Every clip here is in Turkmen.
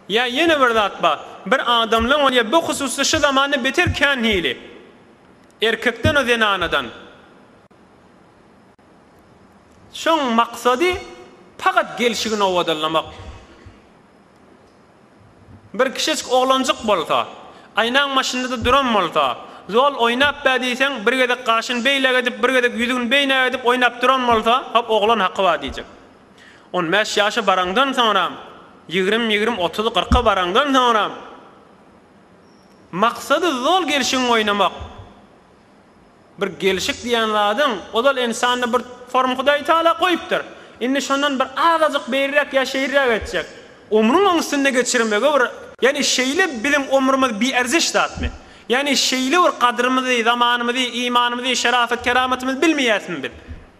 Ýa ýene bir zat bar. Bir adamlaň bolýar, bu hususda şu zamanda beter kän hili. Erkekden-ä zenanadan. Şoň maksady pagat gelşigini owadanlamak. Bir kiçijik oglanjyk bolsa, aýnaň başynda-da duran bolsa, zol oýnap bar diýseň, bir gezek gaşyny beýläk edip, bir gezek ýüzügini beýnäk edip oýnap duran bolsa, hop oglan haky bar diýjek. On bäş ýaşa baraňdan soňram, ýigrimi-ýigrimi, otuzy-kyrka baraňdan soňram, maksady zol gelşigiň oýnamak. Bir gelşik diýen zadyň, ozal ynsanda bir form Hudaý Taala goýupdyr. Indi şondan bir azajyk beýräk ýa şeýrräk etjek. Ömrüň oň üstünde geçirmegi bir. Ýagny şeýle biziň ömrümiz bierziş zatmy? Ýagny şeýle bir gadrymyzy, zamanymyzy, imanymyzy, şerafet-keramatymyzy bilmeýärismi biz?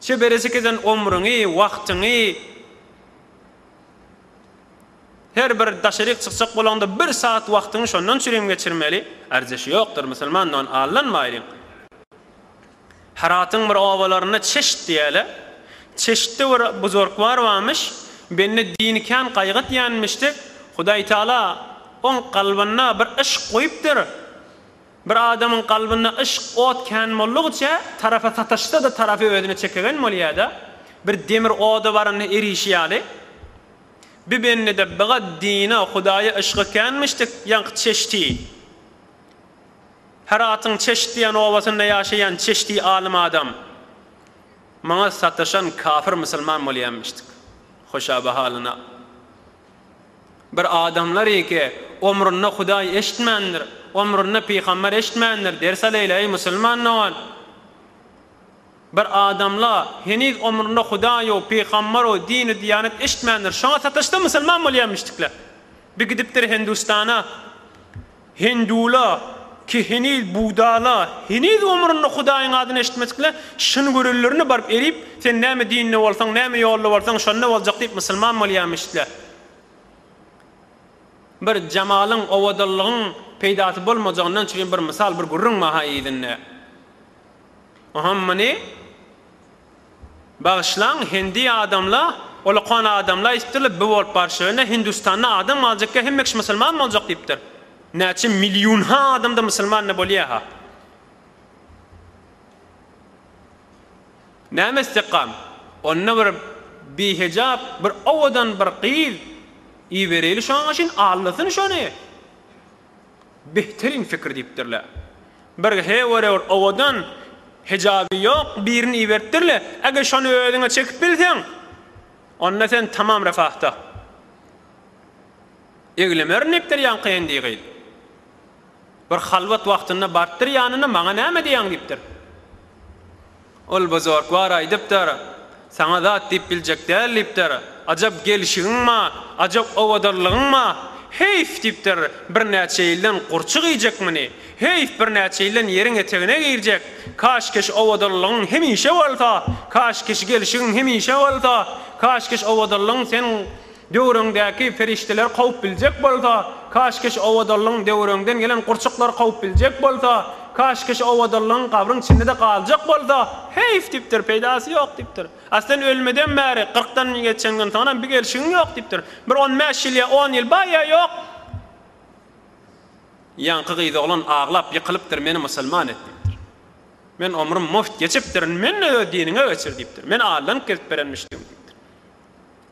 Şu birjik eden omrüňi, wagtyňy her bir daşaryk çykjak bolaňda bir sagat wagtyňy şondan çürim geçirmeli. Arjasy ýokdur musulman don allanmaýlyň. Heratyň bir obalarynda çeşit diýäle. Çeşitde bir buzurgwar barmyş. Bende dini kän gaýgyt ýanmyşdy. Hudaýtagala oň kalbynda bir yşk goýupdyr. Bir adamyň kalbynda yşk ot kän boldugyça tarapa sataşsa-da tarapy özüne çekegen bolýada, bir demir oda baranda erişi ýaly, bi bendede biga dine Hudaýa yşgy känmişdik, ýaňky Çeşti, Heratyň Çeşt diýen obasynda ýaşaýan Çeşti alym adam, maňa sataşan kafir musulman bolýanmişdik. Hoşabahalyna. Bir adamlar eke, Omrunda Hudaý eşitmändir, omrunda pygamber eşitmändir, ders alaýla eý musulman dogan. Bir adamla, heniz omrunda Hudaýo, pygambero, dini diýanet eşitmändir, şoňa sataşsa musulman bolýamyşdikler. Bir gidipdir Hindustana. Hindula, ki heniz Budala, heniz ömründe Hudaýyň adyny eşitmedikle, şyn görenlerine baryp erip, sen näme dinde bolsaň, näme ýolda bolsaň, şonda boljak diýip musulman bolýarmyşdla. Bir jamalyň, owadanlygyň peýdasy bolmajagyndan çüri bir mysal, bir gürrüň bar-ha yzynda. Oňam muny. Bagyşlaň hindi adamla ulukan adamla aýtdylar bi bolup barşyna hindustanda adam galjykka hemme kişi musulman boljak diýipdir. Näçe milýunha adamda musulmanda bolýaha. Näme istikam. Onda bir bihejap bir owadan bir gyz ibereýli şoň üçin allasyn şony. Behteriň pikir diýipdirle. Bir hewere bir owadan, hijaby ýok birini iberipdirle. Eger şony özüňe çekip bilseň, onda sen tamam refahda. Eglemerin diýipdir ýaňky hendi gyz. Bir halwat wagtynda barypdyr ýanyna, Maňa näme diýýäň diýipdir. Ol bozork bar aýdypdyr. Saňa zat diýip biljek däl diýipdir. Ajap gelşigiň-ma, ajap owadanlygyň-ma! Heýf! diýipdir. Birnäçe ýyldan gurçuk iýjek muny. Heýf, birnäçe ýyldan ýeriň etegine girjek. Kaşkeş owadanlygyň hemişe bolsa, kaşkeş gelşigiň hemişe bolsa, kaşkeş owadanlygyň sen Döwrüňdäki perişdeler kowup biljek bolsa, kaşkeş owadanlygyň döwrüňden gelen gurçuklar kowup biljek bolsa, kaşkeş owadanlygyň gabryň içinde-de galjak bolsa, heýf diýipdir, peýdasy ýok diýipdir. A sen ölmeden bäri, kyrkdan geçeňden soňram bir gelşigiň ýok diýipdir. Bir on bäş ýyl ýa on ýyl bar ýa ýok. Ýaňky gyzoglan aglap ýykylypdyr, meni musulman et diýipdir. Men omrüm mugt geçipdir, indi meni-de öz diniňe geçir diýipdir. Men Allaň gelip berenmişdigim diýipdir.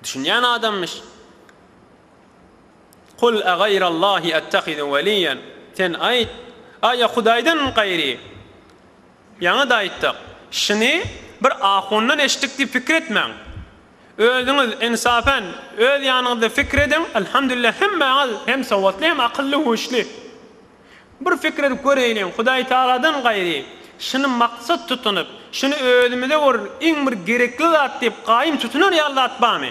Düşünýän adamyş. Kul ageýrallahi ettehizu weliýen, Sen aýt, Aý, Hudaýdan gaýry. Ýaňy-da aýtdyk. Şuny bir ahundan eşitdik diýip pikir etmäň. Özüňiz, ynsafen, öz ýanyňyzda pikir ediň, Alhamdulillah, hemmäňiz hem sowatly, hem akylly-huşly. Bir pikir edip göräýneliň, Hudaý Tagaladan gaýry, şuny maksat tutunyp, şuny özümize bor iň bir gerekli zat diýip gaýym tutunar ýaly zat barmy?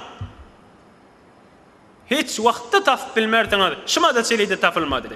Hiç wagtda tapyp bilmersiňiz, şumada çili-de tapylmady.